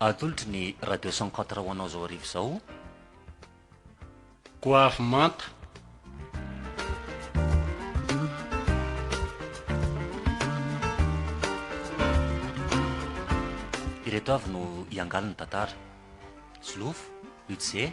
Atolotry ny Radio cent quatre ho anao izao hariva izao. Goavy manta. Ireto avy no hiangaly ny tantara. Zloof, Udze.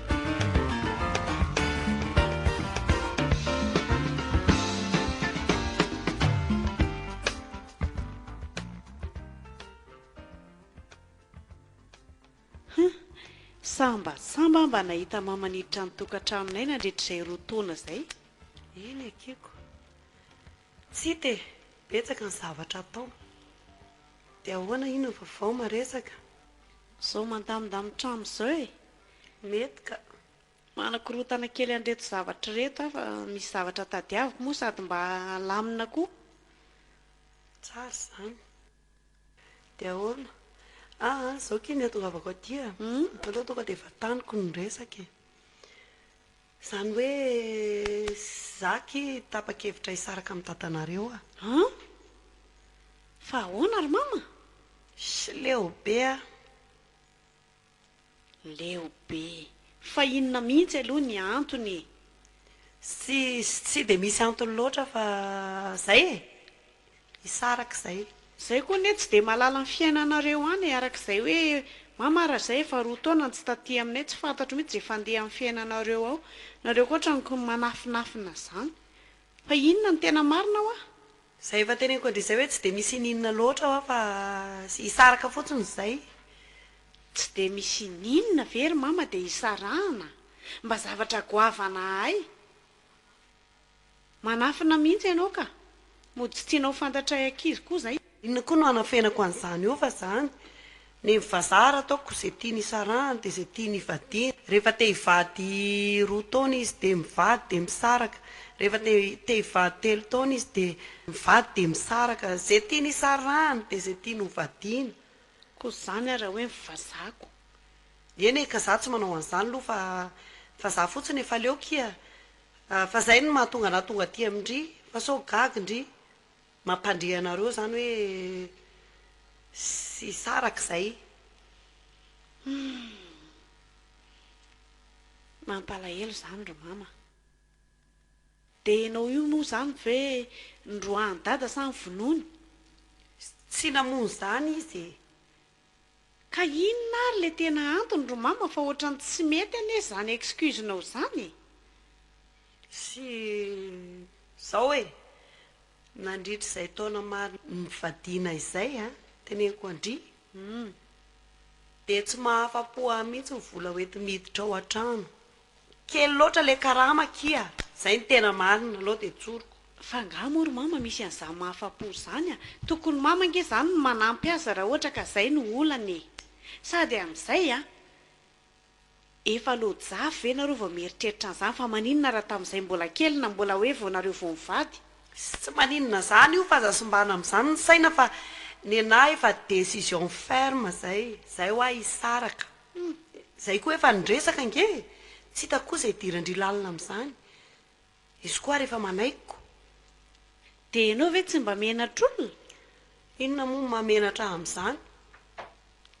Samba samba aho mba nahita mama niditra ny tokantranonay nandritra izay roa taona izay. Eny ekeko. Tsita e! Betsaka ny zavatra atao. Dia ahoana iny ny vaovao maresaka? Zao mandamindamy trano zao e! Mety ka. Manakorontana kely an'ireto zavatra ireto aho fa misy zavatra tadiaviko moa sady mba halamina koa. Tsara izany. Dia ahoana? Ah ah, izao kay ny hatongavako aty e. Aleo tonga dia efa taniko ny resaka e. Izany hoe izaho aky tapa-kevitra hisaraka amin'i dadanareo a. An? Fa ahoana ry mama? Sileo be aho. Leo be. Fa inona mihitsy aloha ny antony e? Tsy tsy dia misy antony loatra fa izay e! Hisaraka izay. Zay koa anie tsy dia mahalala ny fiainanareo any e, araka izay hoe mama raha izay efa roa taona no tsy taty aminay tsy fantatro mihitsy izay fandehan'ny fiainanareo ao, nareo koa otrany manafinafina izany, Fa inona no tena marina hoa? Izay efa teneniko andrizay hoe tsy dia misy ininona loatra hoa fa hisaraka fotsiny izay. Tsy dia misy ininona ve ry mama dia hisarahana? Mba zavatra goavana ahay. Manafina mihitsy ianao ka. Mody tsy tianao fantatray ankizy koa izay. Inona koa no hanafenako an'izany io fa zany ny vazaha ary ataoko ze tiany hisarahany de ze tiany hivadiany rehefa te hivady roa taona izy de mivady de misaraka rehefa te te hivady telo taona izy de mivady de misaraka ze tiany hisarahany de ze tiany hovadiany ko zany ary raha hoe ny vazaha ko eny e ka za tsy manao an'izany loha fa fa za fotsiny efa aleoko iha fa zay no mahatonga anah tonga aty amin-dry fa sao gagy ndry. Mampandre anareo izany hoe tsy hisaraka izay. Humm. Mampalahelo izany ry mama. Dia ianao io moa izany ve noroahan'i dada sa ny vonoiny? Tsy namono izany izy e! Ka inona ary le tena antony ry mama fa otrany tsy mety anie zany excuse nao zany e! Sy zao e! Nandritra izay taona maro nivadiana izay a! teneniko an-dry dia tsy mahafa-po ahy mihitsy ny vola hoenti-miditra ao an-trano Kely loatra le karama akia. Zay no tena marina, alou de tsoriko. Fa angaha moa ry mama misy an'izany mahafapo zany a! Tokony mama ange izany no manampy azy raha ohatra ka zay no olany e! Sady amin'izay a! Efa lojafy ve nareo vao mieritreritra an'izany fa maninona raha tamin'izay mbola kely na mbola hoe vao nareo vao mivady? Tsy maninona zany io fa aza simbana amin'izany ny saina fa nenaha efa decision ferme zay, zay hoa hisaraka. Humm, zay koa efa ny resaka ange e! Tsy hitako koa izay idiran-dry lalina amin'izany. Izy koa ary efa manaiky. Dia ianao ve tsy mba menatr'olona? Inona moa no maha menatra ahy amin'izany?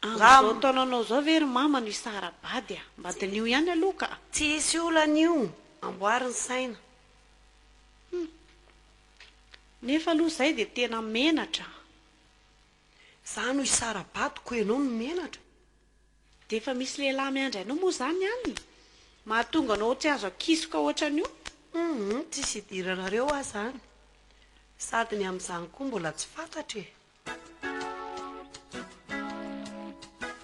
Amin'izao taonanao izao ve ry mama no hisara-bady a! Mba diniho ihany aloha ka! Tsy hisy olana io, amboary ny saina. Humm, nefa aloha izay dia tena menatra. Za no hisara-bato ko enao no menatra. Dia efa misy lehilahy miandry anao moa zany any? Mahatonga anao tsy azo akisoka ohatran'io? Hum tsisy idiranareo ah zany. Sady ny amin'izany koa mbola tsy fantatra e.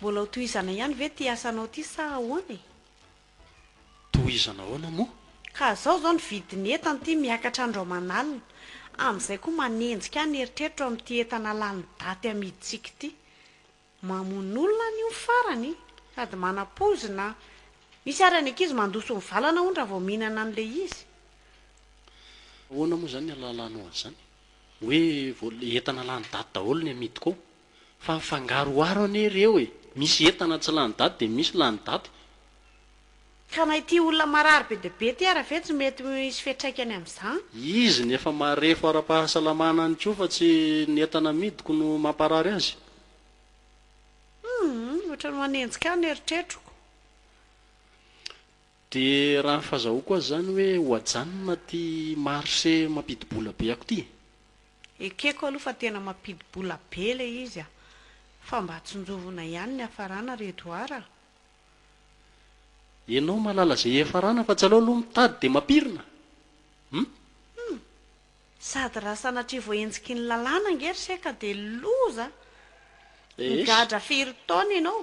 Mbola ho tohizana ihany ve ity asanao ity sa ahoana e? Tohizana ahoana moa? Ka zao zao ny vidin'ny entana ity miakatra andro aman'alina, amin'izay koa manenjika ahy ny eritreritro amin'ity entana lany daty amidintsika ity. Mamono olona any io ny farany, sady manam-poizina. Misy ary any ankizy mandoso ny valana hono raha vao mihinana an'ilay izy. Ahoana moa izany ny ahalalànao an'izany? Hoe entana lany daty daholo ny amidiko ao? Fa mifangaroharo anie ireo e! Misy entana tsy lany daty dia misy lany daty. Ka na ity olona marary be dia be ty ara ve tsy mety hisy fiatraikany amin'izany? Izy ny efa marefo ara-pahasalamana ihany koa fa tsy ny entana amidiko no mamparary azy. Humm, ohatran'ny manenjika ahy ny eritreritroko. Dia raha ny fazahoako azy izany hoe ho ajanona ity marché mampidi-bola be ako ity e! Ekeko aloha fa tena mampidi-bola be le izy a! Fa mba tsinjovina ihany ny hafarana ry Edouard a! Enao mahalala ze hiafarana fa tsy aleo aloha mitady de mampirina hum! Hum! Sady raha sanatria voaenjiky ny lalàna ange ry seka de loza a! Migadra firy taona enao?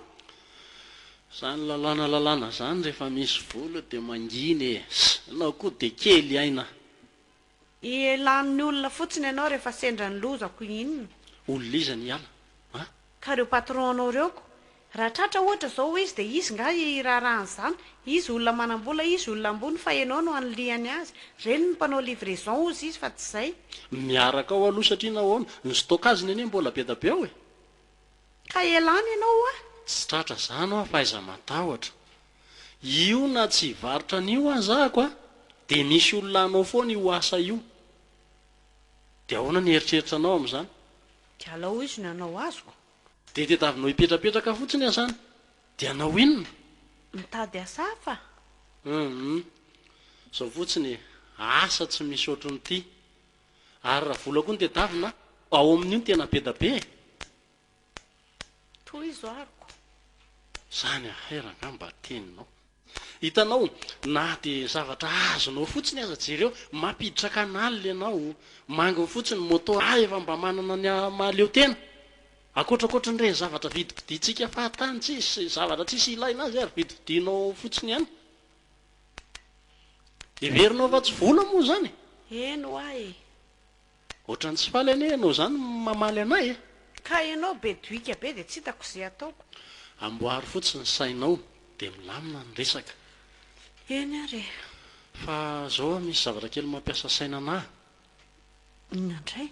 Zany lalàna lalàna zany rehefa misy vola de mangina e! Enao koa de kely aina a! Ihelan'ny olona fotsiny ianao rehefa sendra ny loza ko inona? Olona iza ny hiala a? Ka reo patron anao reo ko? Raha tratra ohatra zao izy de izy nga hiraharaha an'zany? Izy olona manambola izy olona ambony fa enao no anilihany azy. Reny ny mpanao livraison hozy izy fa tsy zay. Miaraka ao aloha satria nahoana? Ny stockage-ny anie mbola be da be ao e! Ka elany ianao hoa. Tsy tratra zany hoa fa aiza matahotra. Io na tsy hivarotra an'io aza ako a, dia misy olona hanao foana io asa io. Dia ahoana ny eritreritra anao amin'izany? Dia alao hoy izy ny hanao azoko. Dia tediavinao hipetrapetraka fotsiny aho zany. Dia hanao inona? Mitady asa hafa. Hum. Izao fotsiny e, asa tsy misy ohatrin'ity. Ary raha vola koa no tedavina ao amin'io no tena be da be e! Tohizo aroko. Zany affaire angamba teninao. Hitanao, na dia zavatra azonao fotsiny aza jereo, mampiditra canal ianao, manginy fotsiny moto ah efa mba manana ny mahaleo tena. Ankoatrakoatrin'ireny zavatra vidibidintsika fahatany tsisy zavatra tsisy ilaina azy ary vidividinao fotsiny ihany. Heverinao fa tsy vola moa izany e! Eny hoa e! Ohatran'ny tsy faly anie ianao izany mamaly anay e! Ka ianao be doika be dia tsy hitako izay ataoko. Amboary fotsiny ny sainao dia milamina ny resaka. Eny ary e! Fa izao aho misy zavatra kely mampiasa saina anah. Inona indray?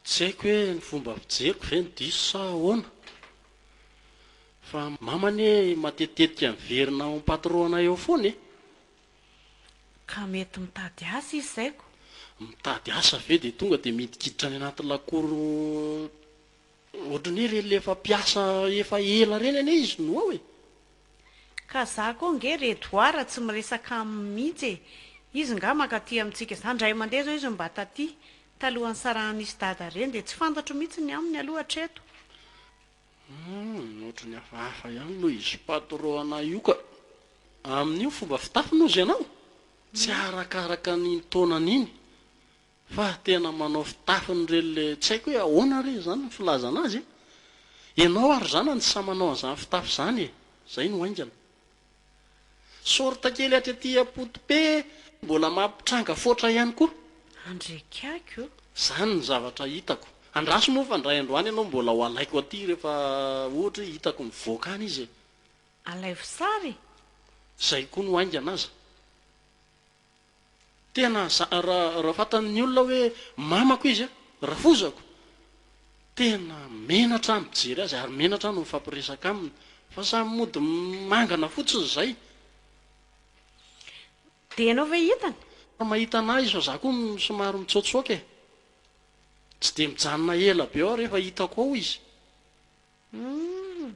Tsy haiko hoe ny fomba fijeriko ve no diso sa ahoana fa mama anie matetitetika miverina ao am-patroana eo foana e! Ka mety mitady asa izy zay ko! Mitady asa ve dia tonga dia midikiditra any anaty lakoro Ohatran'ny hoe ireny efa mpiasa efa ela ireny anie izy no ao e! Ka za koa nge ry Edouard tsy miresaka aminy mihitsy e! Izy nga mankaty amintsika zany indray mandeha zao izy mba taty talohan'ny sarahan'izy dada ireny dia tsy fantatro mihitsy ny aminy aloha hatreto. Hum, ohatran'ny hafahafa ihany noho izy patron anay io ka! Amin'io fomba fitafy noho izy ianao? Tsy arakaraka an'iny taonany iny. Fa tena manao fitafiny re le tsy haiko hoe ahoana re izany ny filazana azy e! Ianao ary zanany tsy sahy manao an'izany fitafy izany e! Izay no haingana. Sorte kely hatry aty apotope mbola mampitranga foatra ihany koa. Andriakaiky o! Izany ny zavatra hitako. Andraso moa fa indray androany ianao mbola ho alaiko aty rehefa ohatra hoe hitako mivoaka any izy e! Alaivo sary e! Izay koa no haingana aza. Tena raha fantan'ny olona hoe mamako izy, rafozako, tena menatra aho mijery azy ary menatra aho no mifampiresaka aminy fa samy mody mangana fotsiny izay. Dia ianao ve hitany? Raha mahita an'ahy izy fa za koa somary mitsoatsoaka e! Tsy dia mijanona ela be aho rehefa hitako ao izy. Humm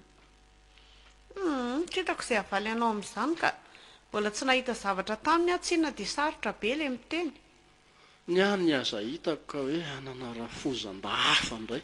humm tsy hitako izay havaly anao amin'izany ka! Mbola tsy nahita zavatra taminy aho tsinona dia sarotra be ilay miteny. Ny ahy ny aza hitako ka hoe hanana rafozam-ba hafa indray.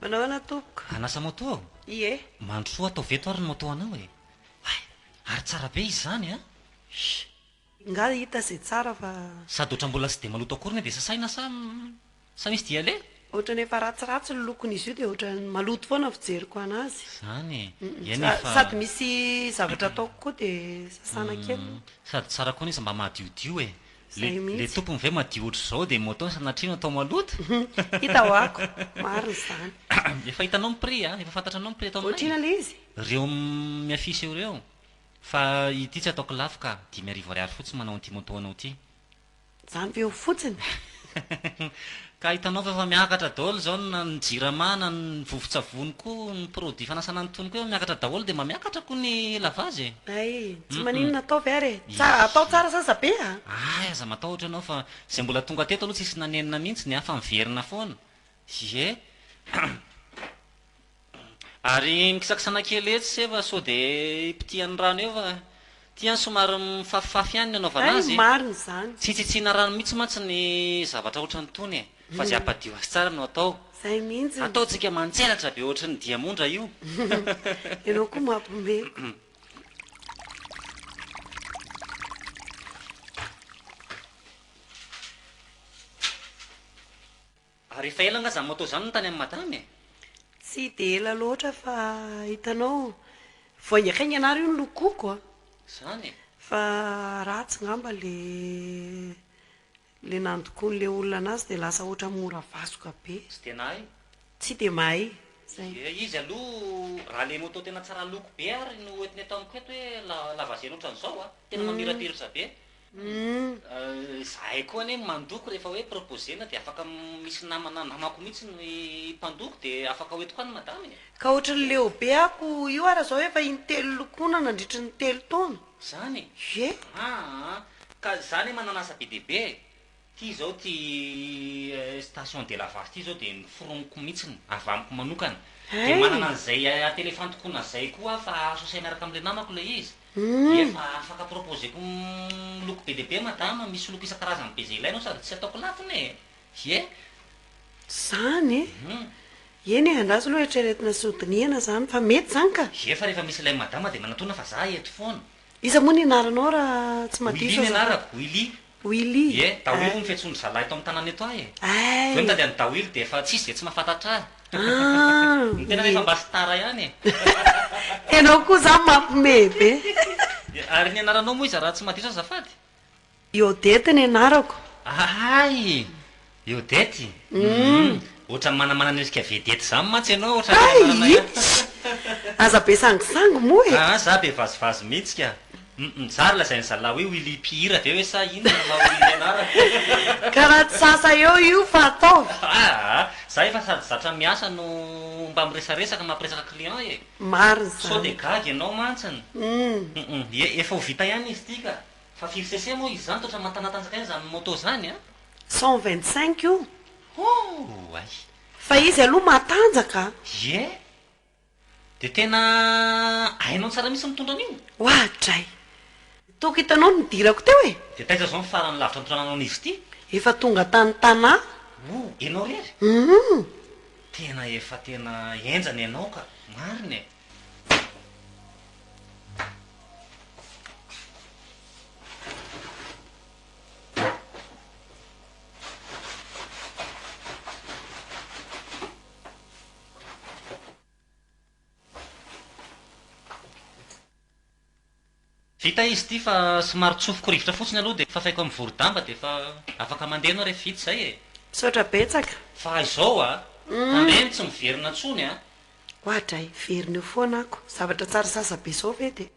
Manao ahoana tompoko? Hanasa moto aho? Ie. Mandrosoa ataovy eto ary ny moto anao e! Hay! Ary tsara be izy izany an! Shh! Ingahy hita izay tsara fa. Sady ohatra mbola tsy dia maloto akory nefa dia sasaina sa sa misy dia le? Ohatrany efa ratsiratsy ny lokon'izy io dia ohatrany maloto foana ny fijeriko anazy. Izany e! Ie nefa. Sady misy zavatra ataoko koa dia sasana kely. Sady tsara koa anefa mba madiodio e! Le le tompony ve madio otrzao de moto sanatriano atao maloto? Hita ho ako, marina izany. Efa hitanao ny prix a, efa fantatranao ny prix atao aminay? Otrina le izy? Reo mi affiche eo reo. Fa ity tsy ataoko lafo ka, dimy arivo ariary fotsiny manao an'ity moto anao ity. Zany ve eo fotsiny? Ka hitanao fa efa miakatra daholo izao na ny jirama na ny vovo-tsavony koa ny produit fanasana ny tongoko efa miakatra daholo dia mba miakatra koa ny lavage e! Hay, tsy maninona ataovy ary e! Tsara, atao tsara sasa be a! Hay, aza matahotra ianao fa izay mbola tonga teto aloha tsisy nanenina mihitsy, ny hafa miverina foana! Ie! Ary mikisakisana kely etsy sy efa sao dia hipitihan'ny rano eo fa ity an somary mifafifafy ihany ny anaovana azy e! Hay marina izany. Tsy tsitsiana rano mihitsy mantsy ny zavatra ohatran'itony e! Fa izay hampadio azy tsara no atao. Izay mihitsy ny. Ataontsika mantselatra be ohatry ny diamondra io. Ianao koa mampme. Ary efa ela nga zany moto zany no tany am madama e? Tsy dia ela loatra fa hitanao voaingaikaingana ary io ny lokoko a! Zany e! Fa ratsy ngamba le le nandokoan'le olona anazy dia lasa ohatra mora vasoka be. Tsy dia nahay? Tsy dia mahay, zay. Dia izy aloha raha le moto tena tsara loko be ary no hoentiny eto amiko eto hoe la lavaziana ohatran'izao a! Tena mamirapirirsa be! Zahay koa anie mandoko rehefa hoe proposer-na dia afaka misy namana namako mihitsy no mpandoko dia afaka hoentiko any madama e! Ka ohatry ny leo be ako io ara zao efa intelo lokoina nandritry ny telo taona. Zany e! Ye! Aa! Ka za anie manana asa be dia be e! Ity izao ity station de la vache ity izao dia noforoniko mihitsiny, avy amiko manokana. Dia manana an'izay at elephant koa nazay koa aho fa azo asay miaraka amin'ilay namako ilay izy. Dia efa afaka proposer-ko loko be dia be madama, misy loko isan-karazany be izay ilainao sady tsy ataoko lafona e! Ie! Izany e! Eny e, andraso aloha eritreretina sy hodinihana izany fa mety izany ka! Ie fa rehefa misy ilay madama dia manatona fa za eto foana. Iza moa ny anaranao raha tsy madiso aza? Willy ny anarako, Willy. Willy Ie, Dawili hono fiantsoan'ny zalahy eto amin'ny tanàna eto ahy e! Ai! Zao nitady an'i Dawili dia efa tsisy dia tsy mahafantatra ahy! An! Ny tenany efa mba star ihany e! Ianao koa izany mampimehy be! Ie, Ary ny anaranao moa iza raha tsy madiso azafady? Iodette ny anarako. Ay! Eodety? Humm! Ohatran'ny manamana ny endrika vedety zany mantsy ianao ohatran'ny Hay! anarana ihany fa. Its! Aza be sangisangy moa e! Aa za be vazivazy mihitsy ka! Humm nizara ilay zay ny zalahy hoe Willy mpihira ve hoe sa inona no maha Willy ny anarana? Karaha tsy sasa eo io fa ataovy! Aa! Za efa sady zatra miasa no mba miresaresaka mampiresaka client e! Marina izany! Sao dia gaga ianao mantsiny? Humm! Humm! Ye efa ho vita ihany izy ity ka! Fa firy cc moa izy izany? Toa ohatran'ny matanatanja kay izany moto izany a! Cent vingt cinq io? Oay! Fa izy aloha matanjaka a! Ie! Dia tena hainao tsara mihitsy ny mitondra an'io? Oadray! Tokony hitanao ny nidirako teo e! Dia taiza izao ny farany lavitra nitondrananao an'izy ity? Efa tonga tany Tana. O! Ianao irery? Humm! Tena efa tena henjana ianao ka! Marina e! Vita izy ity fa somary tsofiko rivotra fotsiny aloha dia fafaiko amin'ny vorodamba dia efa afaka mandeha ianao rehefa vita izay e. Misaotra betsaka. Fa izao a! Tandremo tsy miverina intsony a! Oadray, verina eo foana ako. Zavatra tsara sasa be izao ve dia.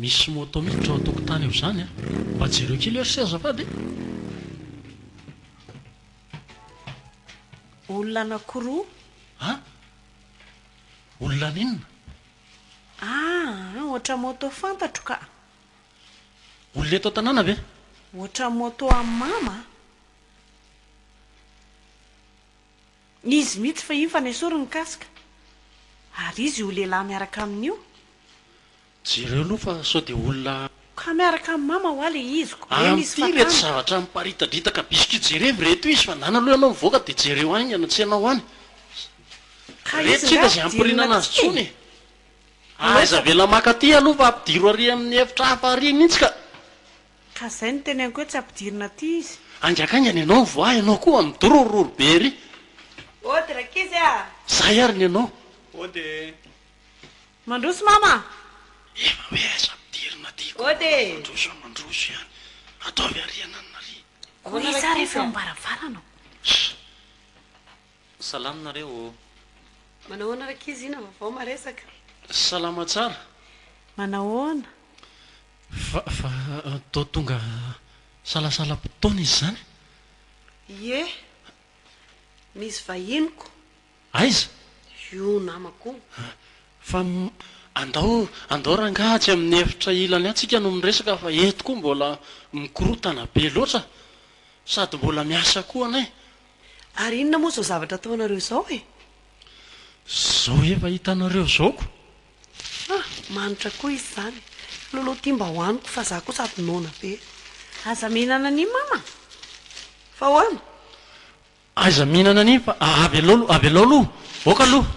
Misy moto miditra ao an-tokotany ao izany an! Mba jereo kely eo ry azafady e! Olona anankiroa. An? Olona an'inona? Ah, ohatra moto fantatro ka! Olona eto an-tanàna ve? Ohatran'ny moto an'i Mama a! Izy mihitsy fahiny fa nesoriny ny casque. Ary izy io lehilahy miaraka aminy io? Jereo aloha fa sao dia olona. Ka miaraka amin'i Mama hoa ilay izy ko ve misy fatana? Amin'ity ireto zavatra miparitadritaka biscuits jerevy ireto izy fa nana aloha ianao mivoaka dia jereo any any an-tsena ao any. Ka izy nga dia inona tsiny e? Aiza avela maka aty aloha fa ampidiro ary amin'ny efitra hafa ary mintsy ka. Ka zay no teneniko hoe tsy ampidirina aty izy. Haingankaingana ianao voa ianao koa midorororo be ery. Ody rankizy a! Zay ary ny anao. Ody e! Mandroso mama a! Efa hoe aiza ampidirina aty koa manao mandroso a mandroso ihany. Ataovy ary ananona ary. Koa iza ary efa eo am-baravarana ao. Ssss. Salama nareo ô! Manahoana rankizy ina vaovao maresaka. Salama tsara. Manahoana? Fa fa toa tonga salasalam-potoana izy izany? Ie. Misy vahiniko. Aiza? Io namako io. Fa andao andao rangaha atsy amin'ny efitra ilany atsy isika no miresaka fa eto koa mbola mikorotana be loatra sady mbola miasa koa anay. Ary inona moa izao zavatra ataonareo izao e? Izao efa hitanareo izao ko! Ha! Manitra koa izy izany! Lolo ity mba hohaniko fa za koa sady noana be! Aza mihinana an'iny mama a! Fa hoana! Aiza mihinana an'iny fa avelao aloha, avelao aloha! Aoka aloha!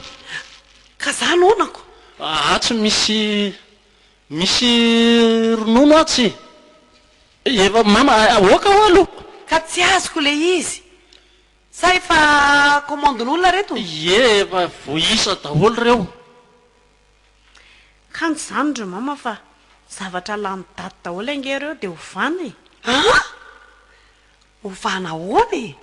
Ka za noanako! Atsy misy. Misy ronono atsy efa mama aoka oa aloha. Ka tsy azoko le izy. Sa efa commande-n'olona reto? Ie efa voaisa daholo reo. Kanjo zany ry mama fa zavatra lany daty daholo ange reo de ovana e. An! Ovana ahoana e?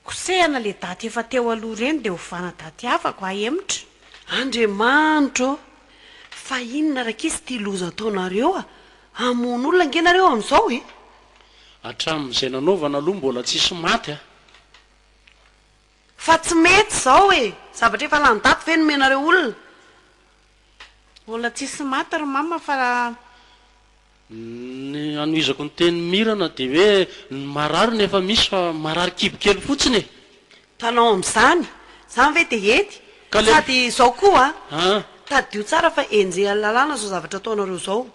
Kosehana le daty efa teo aloha reny de ovana daty hafa ko ahemotra. Andriamanitro ô! Fa inona rakisy ity loza ataonareo a! Hamono olona ange nareo amin'izao e! Hatramin'izay nanaovana aloha mbola tsisy maty a! Fa tsy mety izao e! Zavatra efa lany daty ve no omenareo olona? Mbola tsisy maty ry mama fa Ny anohizako ny teny Mirana dia hoe ny marary no efa misy fa marary kibo kely fotsiny e! Tanao amin'izany, izany ve dia hety? Ka le. Sady izao koa a, An! tadidio tsara fa enjehan'ny lalàna izao zavatra ataonareo izao.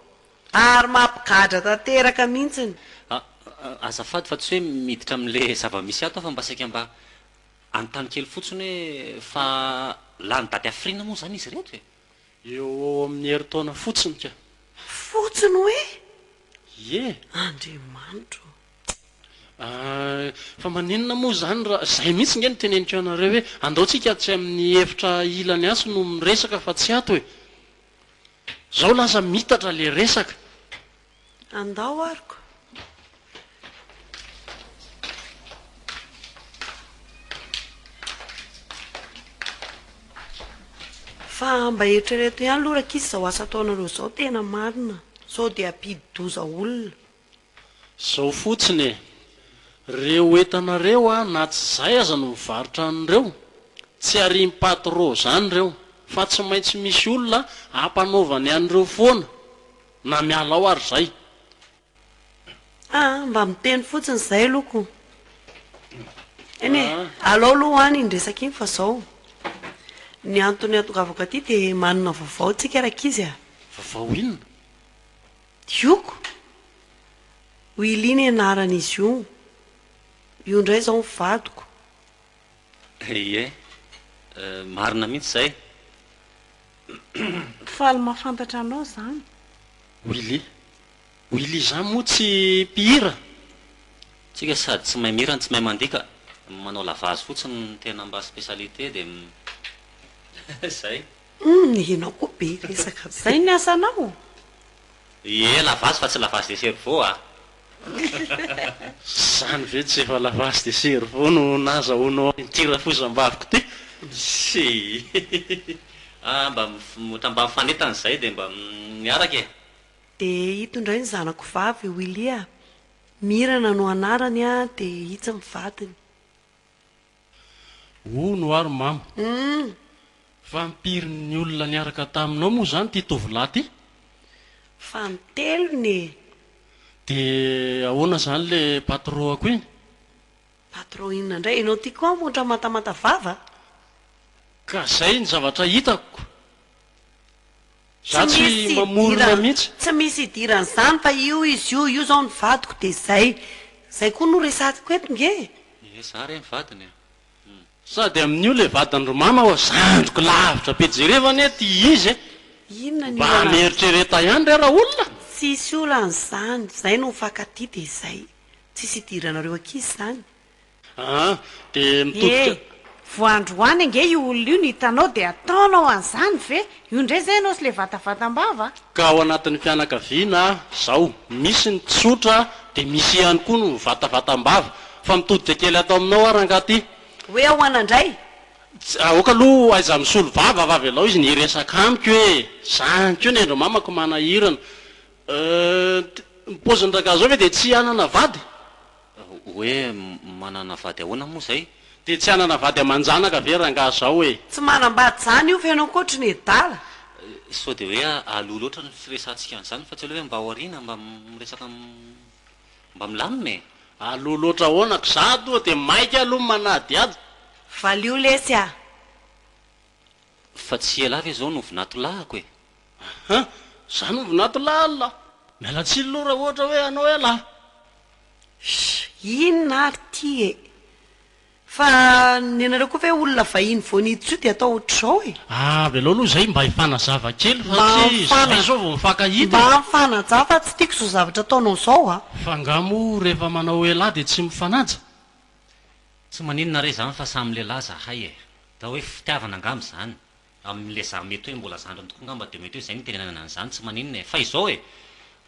Ary mampigadra tanteraka mihitsiny. A, a, azafady fa tsy hoe miditra amin'ilay zava-misy ato aho fa mba saika mba Anontany kely fotsiny hoe fa lany dady hafiriana moa izany izy ireto e? Eo ho eo amin'ny herintaona fotsiny ka. Fotsiny hoe? Ie. Andriamanitro ô! Ahh, fa maninona moa izany raha, izay mihitsy nge no teneniko anareo hoe andao tsika atsy amin'ny efitra ilany atsy no miresaka fa tsy ato e! Zao lasa mitatra le resaka. Andao arko. Fa mba eritrereto ihany aloha rakisa izao asa ataonareo izao tena marina sao dia ampidi-doza olona. Zao fotsiny e, reo entana reo a na tsy zay aza no mivarotra an'ireo, tsy arian'i patro zany reo, fa tsy maintsy misy olona ampanaovany an'ireo foana. Na miala ao ary zay. Ah ah mba miteny fotsiny izay aloha ko. Eny e, alao aloha ho any iny resaka iny fa zao ny antony atongavako aty de manana vaovao tsika rankizy a. Vaovao inona? Dioko! Willy ny anaran'izy io. Io indray izao ny vadiko. Ie, marina mihitsy izay. Faly mahafantatra anao izany. Willy, Willy izany moa tsy mpihira? Tsika sady tsy mahay mihira no tsy mahay mandika, manao lavazy fotsiny no tena mba spécialité dia izay. Humm ianao koa be resaka be. Izay ny asanao? Ie, lavazy fa tsy lavazy de cerveau a! Zany ve tsy efa lavasy de cerveau no nazahoanao ity rafozambaviko ty? Ssii ah mba mivonota mba mifanentana zay de mba miaraka e. De ito indray ny zanako vavy Willy a! Mirana no anarany a! de itsy ny vadiny. Hono ary mamo. Fa ampirin'ny olona niaraka taminao moa izany ity tovolahy ity? Fa ny telony e! Dia ahoana izany ilay patroako iny? Patron inona indray? Ianao ity koa hamonitra mantamanta vava? Ka izay ny zavatra hitako. Za tsy mamorona mihitsy. Tsy misy idirany zany fa io izy io, io zao ny vadiko de zay. Zay koa no resatiko eto nge e. Ehe za re ny vadiny e. Sady amin'io le vadiny ry mama oa zandriko lavitra be jereva anie ty izy e. Inona ny olana amizay. Mba mieritrereta ihany re ra olona. Tsisy olana zany, zay no mifankatia de zay. Tsisy idiranareo ankizy zany. Aa dia mitodika. Ee vao androany ange io olona io no hitanao dia ataonao an'izany ve? Io indray izay ianao sy ilay vatavatam-bava a! Ka ao anatin'ny fianakaviana izao misy ny tsotra dia misy ihany koa ny vatavatam-bava. Fa mitodika kely ato aminao aho rangahy ty. Hoe ahoana indray? Tsy, aoka aloha aiza misolo vava fa avelao izy ny hiresaka amiko e! Izany koa ny ain-dry mamako manahirana. Ee, ny paozin'ny rangahy izao ve dia tsy hanana vady? Hoe manana vady ahoana moa zay? Dia tsy hanana vady aman-janaka ve rangaha zao e? Tsy manambady zany io feno ankoatry ny adala. Sao dia hoe aloha loatra ny firesahantsika an'izany fa tsy aleo ve mba ao aoriana mba miresaka mba milamina e? Aloha loatra ahoana ka za atoa dia maika aloha ny manadihady. Valio lesy a! Fa tsy ialahy ve zao no vinatolahiko e? Aha, za no vinanto laly lah. Miala tsiny loha raha ohatra hoe anao eh lah. Shh, inona ary ty e? Fa nenareo koa ve olona vahiny vao niditra io dia atao ohatr'izao e? Ah, avelao aloha izay mba hifanazava kely fa tsy izay izao vao mifankahita e! Mba mifanaja fa tsy tiako izao zavatra ataonao izao a! Fa nga moa rehefa manao elah dia tsy mifanaja? Tsy maninona re izany fa samy lehilahy zahay e! Atao hoe fitiavana angamba izany. Amin'ilay za mety hoe mbola zandriny tokoa ngamba dia mety hoe izay no itenenana an'izany tsy maninona e! Fa izao e!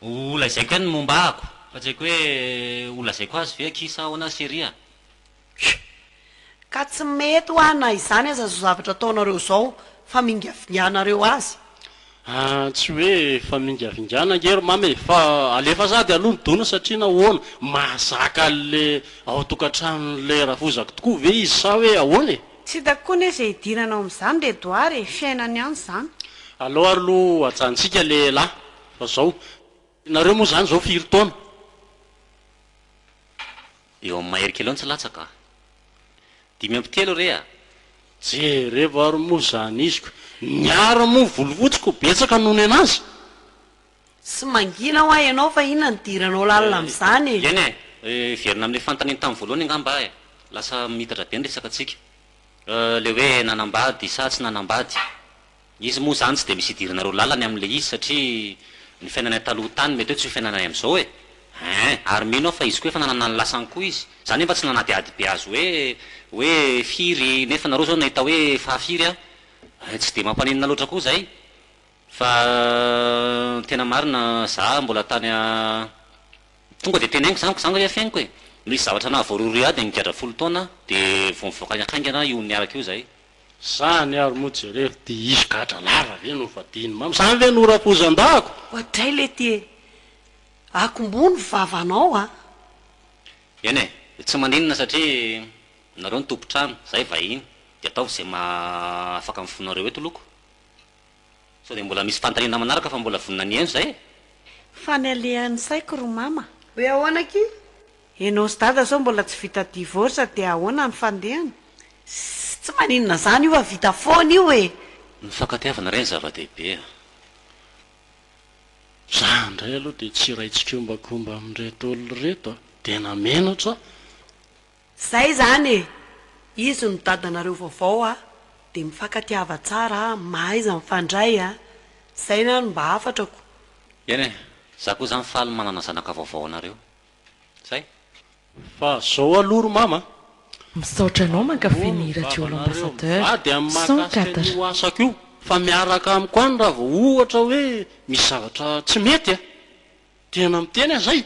ho lazaiko ihany ny momba ako fa tsy haiko hoe ho lazaiko azy ve akia sa ahoana sy ry a! Kky! Ka tsy mety hoa na izany aza zao zavatra ataonareo zao fa mingavinganareo azy! Ahh tsy hoe famingavingana ange ry mama e! fa alefa sahady aloha ny dona satria nahoana? mahazaka an'le ao an-tokantranon'le rafozako tokoa ve izy sa hoe ahoana e? Tsy hitako koa anie izay hidiranao amin'izany ry Edouard e! fiainany ihany izany. Aleo ary aloha ajanontsika le lahy fa zao, nareo moa zany zao firy taona? Eo amin'ny mahery kely eo ny tsy latsaka a! Dimy amby telo re a! Jerevo ary moa zany iziko. Niaro moa volofotsiko betsaka noho ny anazy. Tsy mangina hoa ianao fa inona no idiranao lalina amin'izany e! Eny e! Hiverina amin'ilay fanontaniany tamin'ny voalohany angamba aho e! Lasa miitatra be ny resakantsika. Ilay hoe nanambady sa tsy nanambady. Izy moa zany tsy dia misy idiranareo lalany amin'ilay izy satria ny fiainanay taloha tany mety hoe tsy ho fiainanay amin'izao e! Hein! Ary mino aho fa izy koa efa nanana ny lasany koa izy. Za nefa tsy nanadihady be azy hoe hoe firy nefa nareo zao nahita hoe fahafiry an! Hein! Tsy dia mampaninona loatra koa zay fa ny tena marina za mbola tany a Tonga dia teneniko zany ka za angaha fihainoko e! Nisy zavatra nahavoarohirohy ahy dia nigadra folo taona aho dia vao nivoaka haingana io niaraka io zay. Izany ary moa jereo dia hisy gadra lava ve no vadian'i mama? Izany ve no rapouzan-dahako? Oadray lety e! Akomboho ny vavanao a! Eny e! Dia tsy maninona satria nareo no tompon-trano, izahay vahiny, dia ataovy izay maha afaka ny fonareo eto loko. Sao dia mbola misy fantalenana manaraka fa mbola vonona ny ento zay e! Fa ny alehan'ny saiko ry mama. Hoe ahoana akia? Enao sy dada sao mbola tsy vita divorce dia ahoana ny fandehany? Ssy tsy maninona zany io fa vita foana io e! Ny fankatiavana re ny zava-dehibe a! Za ndray aloha dia tsy iray tsikombakomba amin'ireto olona ireto a! Dia namenatra aho. Zay zany e! Izy no dadanareo vaovao a! Dia mifankatiava tsara a! Mahaiza mifandray a! Zay na no mba hafatrako. Eny e! Za koa zany faly manana zanaka vaovao anareo. Zay. Fa zao aloha ry mama a! Misaotra anao mankafy ny radio l'ambassadeur Mivady amin'ny maha cent gasy quatre. an'io asako io fa miaraka amiko any raha vao ohatra hoe misy zavatra tsy mety a! Tena miteny aho zay!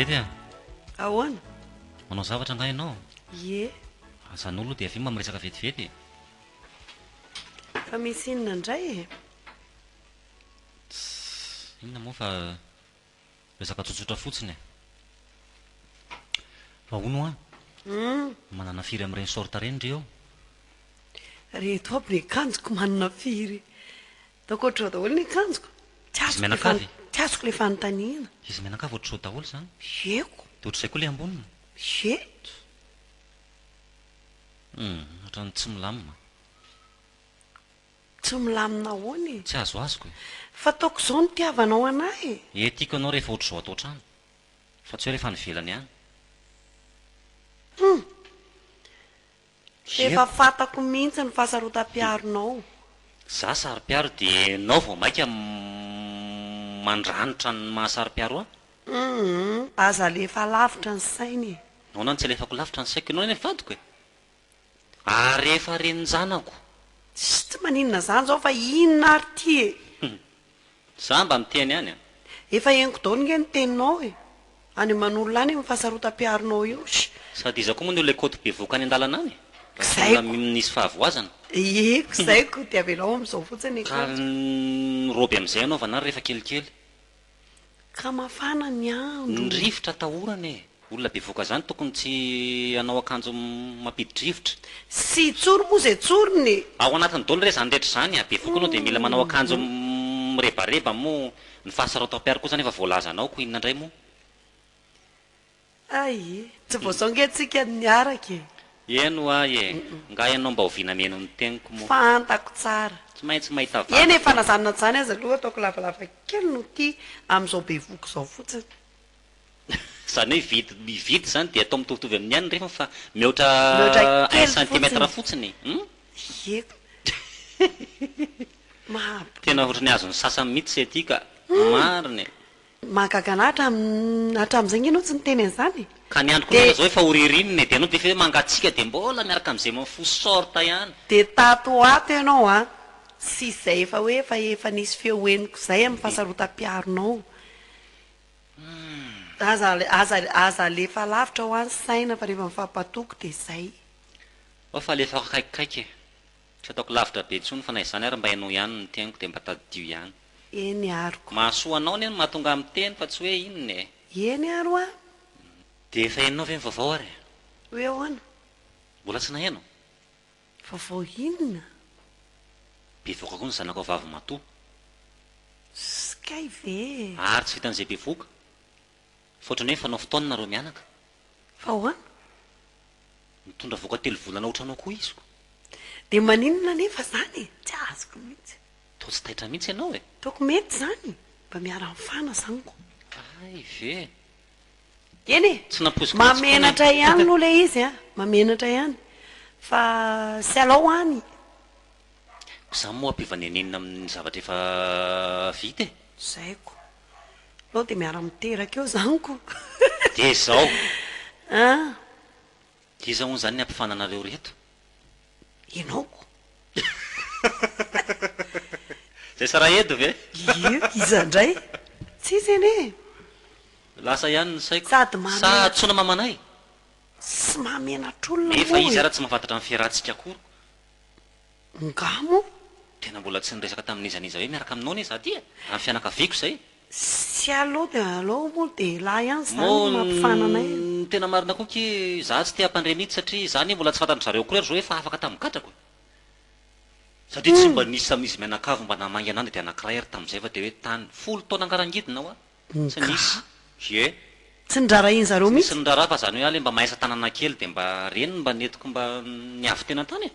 Dedy a! Ahoana? Manao zavatra angaha ianao? Ie. Azanao aloha dia avy eo mba miresaka vetivety e! Fa misy inona indray e? Tss! Inona moa fa. Resaka tsotsotra fotsiny e. Fa hono hoa, manana firy amin'ireny sorte ireny ry eo? Reto aby ny akanjoko manana firy? Ataoko ohatr'izao daholo ny akanjoko. Izy mianakavy? Tsy azoko ilay fanontaniana. Izy mianakavy ohatr'izao daholo izany? Yeko. Dia ohatr'izay koa ilay amboniny? Yet. Hum, ohatran'ny tsy milamina. Tsy milamina ahoana e. Tsy azoazoko e. Fataoko izao ny itiavanao anah e. Ee tiako anao rehefa ohatr'izao ato an-trano. Fa tsy hoe rehefa any ivelany any. Hum. Efa fatako mihitsy ny fahasarotam-piaronao. Za saro-piaro dia enao vao maika mandranitra ny maha saro-piaro ahy? Hum. Aza alefa lavitra ny saina e. Nahoana no tsy alefako lavitra ny saiko? Enao anie ny vadiko e. Ary efa renin-janako. Tsy tsy maninona izany izao fa inona ary ity e! Hum. Za mba miteny ihany an! Efa henoko daholo nge ny teninao e! Any Manolo any amin'ny fahasarotam-piaronao io sh! Sady iza koa moa ny olona ikoto bevoka any an-dalana any e! Raha tsy olona misy fahavoazana. Ie ko zay ko dia avelao amin'izao fotsiny e! Ka ny robe amin'izay anaovana ary rehefa kelikely. Ka mafana ny andro. Ny rivotra atahorana e! Olona bevoka zany tokony tsy hanao akanjo mampidi-drivotra. Tsy tsory moa zay tsoriny e! Ao anatiny dolo re zany rehetra zany a! Bevoka anao dia mila manao akanjo mirebareba moa ny fahasarotako mpiaro kosa nefa voalazanao ko inona ndray moa? Hay e! Tsy vao zao nge tsika no niaraka e! Eny wa e! Nga ianao mba oviana mihaino ny teniko moa? Fantako tsara! Tsy maintsy mahita vaky Eny e! Fa na zany na zany aza aloha ataoko lavalava kely no ty amin'izao bevohoka izao fotsiny. Zany hoe vide ny vide zany dia atao mitovitovy amin'ny an'ny refiny fa mihoatra Mihoatra un kely centimètre fotsiny. fotsiny. Hum? Ie! Mahabola. Tena ohatran'ny azon'ny sasany mihitsy se ty ka! Marina e! Mahagaga anah hatramin'ny hatramin'izay nge anao tsy niteny an'izany e! Ka ny andro koa miala zao efa ho ririnina e, de ianao defa hoe mangatsiaka de mbola miaraka am'izay mifoha short ihany. De tato ho ato ianao a, tsisy izay efa hoe efa efa nisy feo henoko izay amin'ny fahasarotam-piaronao. Aza aza aza alefa lavitra ho ahy ny saina fa rehefa mifampatoky de izay. Oa fa alefako akaikikaiky e. Tsy ataoko lavitra be intsony fa na izany ary mba henoy ihany ny teniko dia mba tadidio ihany. Eny ary ko. Mahasoa anao anie ny mahatonga ahy miteny fa tsy hoe inona e. Eny ary hoa. Dia efa henonao ve ny vaovao ary e? Hoe ahoana? Mbola tsy naheno. Vaovao inona? Bevoka koa ny zanakao vavimatoa. Sy kay ve e? Ary tsy vitan'izay bevoka. Fa ohatran'ny hoe mifanao fotoana nareo mianaka. Fa ahoana? Mitondra vohoka telo volana ohatranao koa izy ko. Dia maninona anefa izany e? Tsy azoko mihitsy. Toa tsy taitra mihitsy ianao e! Toako mety izany, mba miara-mifana izany ko. Hay ve! Eny e! Tsy nampoiziko mihitsy kony. Mahamenatra ihany aloha ilay izy a! Mahamenatra ihany. Fa tsy alao any. Koa izany moa ampiova nenenina amin'ny zavatra efa vita e! Izay ko. Anao dia miara miteraka eo zany ko. Dia izao. An. Dia iza hono izany ny ampifana anareo ireto? Ianao ko. Izay Sarahedo ve? Ie, iza indray? Tsisy anie e. Lasa ihany ny saiko. Sady mahamenatra. Sa hantsoina mamanay? Sy mahamenatra olona moa e. Nefa izy ara tsy mahafatatra ny fiarahantsika akory. Ngah moa? Tena mbola tsy niresaka tamin'iza n'iza hoe miaraka aminao anie za ty e! Raha ny fianakaviako izay e! Tsy alou dia alou moa dia elah ihany izany no mampifana anay e! Moa ny tena marina koa ki za tsy te hampandre mihitsy satria za anie mbola tsy fantan-dry zareo akory ary zao efa afaka tamin'ny gadrako e! Satria tsy mba nisy tamin'izy mianakavy mba naha-mainga an'any dia anankiray ary tamin'izay fa dia hoe tany folo taona angarangidina hoa! Tsy nisy ie. Tsy nirarahin zareo mihitsy. Tsy nisy niraraha fa zany hoe ale mba mahay asa tanana kely de mba reny no mba nentiko mba niavy tena tany e.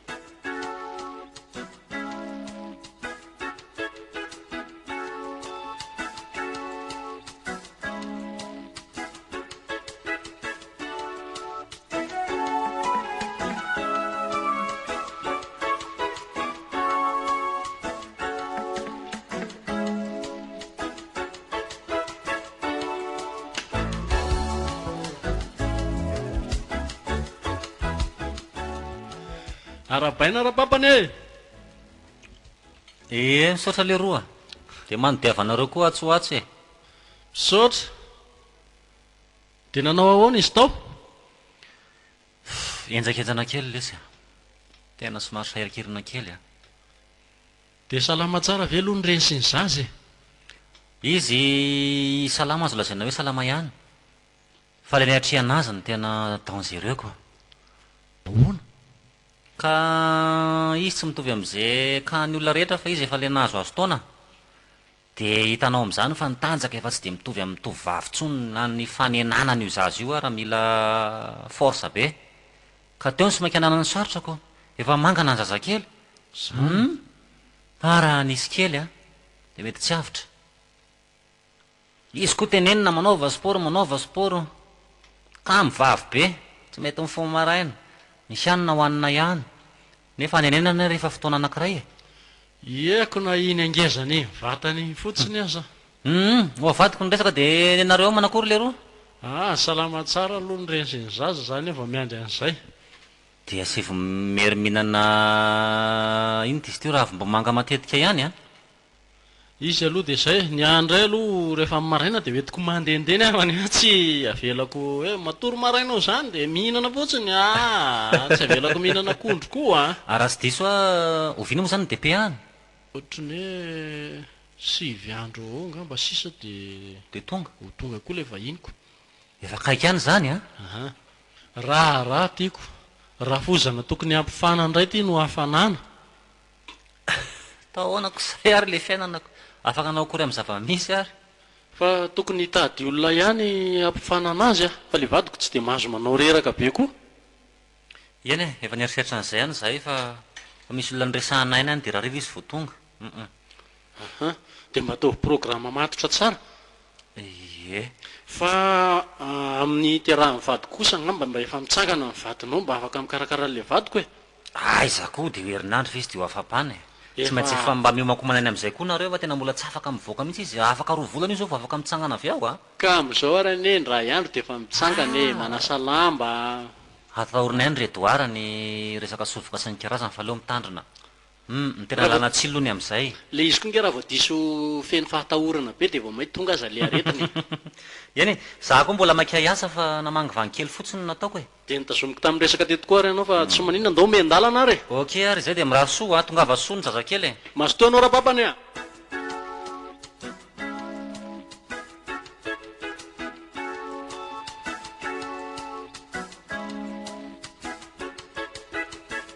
Arahabaina Rapapany e! Ee, misaotra leroa. Dia manodiava anareo koa atsy ho atsy e! Misaotra. Dia nanao ahoana izy tao? Fff, henjakenjana kely lesy a! Tena somary sahirikirina kely a! Dia salama tsara ve aloha ny reny sy ny zaza e? Izy salama azo lazaina hoe salama ihany, fa ilay niatrehana azy no tena dangereux quoi! Ahoana? Ka izy tsy mitovy amin'izay kahan'ny olona rehetra fa izy efa ilay nahazoazo taona. Dia hitanao amin'izany fa ny tanjaka efa tsy dia mitovy amin'ny tovovavy intsony na ny fanenanana io zaza io ary mila force be. Ka teo ny sy maika nanana ny sarotra ko. Efa mangana ny zazakely. Hum! Fa raha nisy kely an! Dia mety tsy avotra. Izy ko tenenina manaova sport manaova sport. Kamo vavy be. Tsy mety mifoha maraina. Ny hanina hohanina ihany. Nefa any anenana ary efa fotoana anankiray e! Ieko na iny angeza ny vatany iny fotsiny aza. Humm! ho avadiko ny resaka dia ny anareo ao manakory leroa? Aa! salama tsara aloha ny reny sy ny zaza za anie vao miandry an'izay. Dia sy vao mieriminana iny ty sty raha avy mbo manga matetika ihany a! Izy aloha dia izay, ny ahy indray aloha rehefa amin'ny maraina dia hoentiko mandehandeha ny havany fa tsy avelako hoe matory maraina ho izany dia mihinana fotsiny aa, tsy avelako mihinana akondro koa an! Ary raha tsy diso aho, oviana moa izany ny DPA any? Ohatran'ny hoe sivy andro eo ho eo angamba sisa dia Dia tonga? ho tonga koa ilay vahiniko. Efa akaiky any izany an! Aha. Raharaha tiako. Rafozana tokony hampifana indray ity no hafanana. Atao ahoana kosay ary ilay fiainana ko? Afaka hanao akory amin'ny zava-misy ary? Fa tokony hitady olona ihany hampifanana azy aho fa ilay vadiko tsy dia mahazo manao reraka be koa. Eny e, efa nieritreritra an'izay ihany izahay fa fa misy olona niresahana aina any dia rarira izy vao tonga. Hum. Aha, dia mba ataovy programa matotra tsara. Ie. Fa amin'ny hiterahan'ny vadiko kosa angamba mba efa mitsangana ny vadinao mba afaka mikarakara an'ilay vadiko e. Aiza koa dia io herinandro fa izy dia ho afa-pana e! Tsy maintsy efa mba miomankomana any amin'izay koa nareo fa tena mbola tsy afaka mivoaka mihitsy izy, afaka roa volana io izao vao afaka mitsangana avy ao a! Ka amin'izao ary anie ny ray andro dia efa mitsangana e! Manasa lamba a! Atahorana ihany ry Edouard ny resaka sovoka sy ny kirazany fa aleo mitandrina. Humm, ny tena làlana tsilo ny amin'izay e! Ilay izy koa nge raha vao diso feno fahatahorana be dia vao mainka tonga aza ilay aretina e! Eny e! Izaho koa mbola maika hiasa fa namangivangy kely fotsiny no nataoko e! Dia notazomiko tamin'ny resaka teto koa ary ianao fa tsy maninona ndao miandalana ary e! Ok ary izay dia mirary soa ho ahy, tongava soa ny zazakely e! Mazotoa anao Rababany a!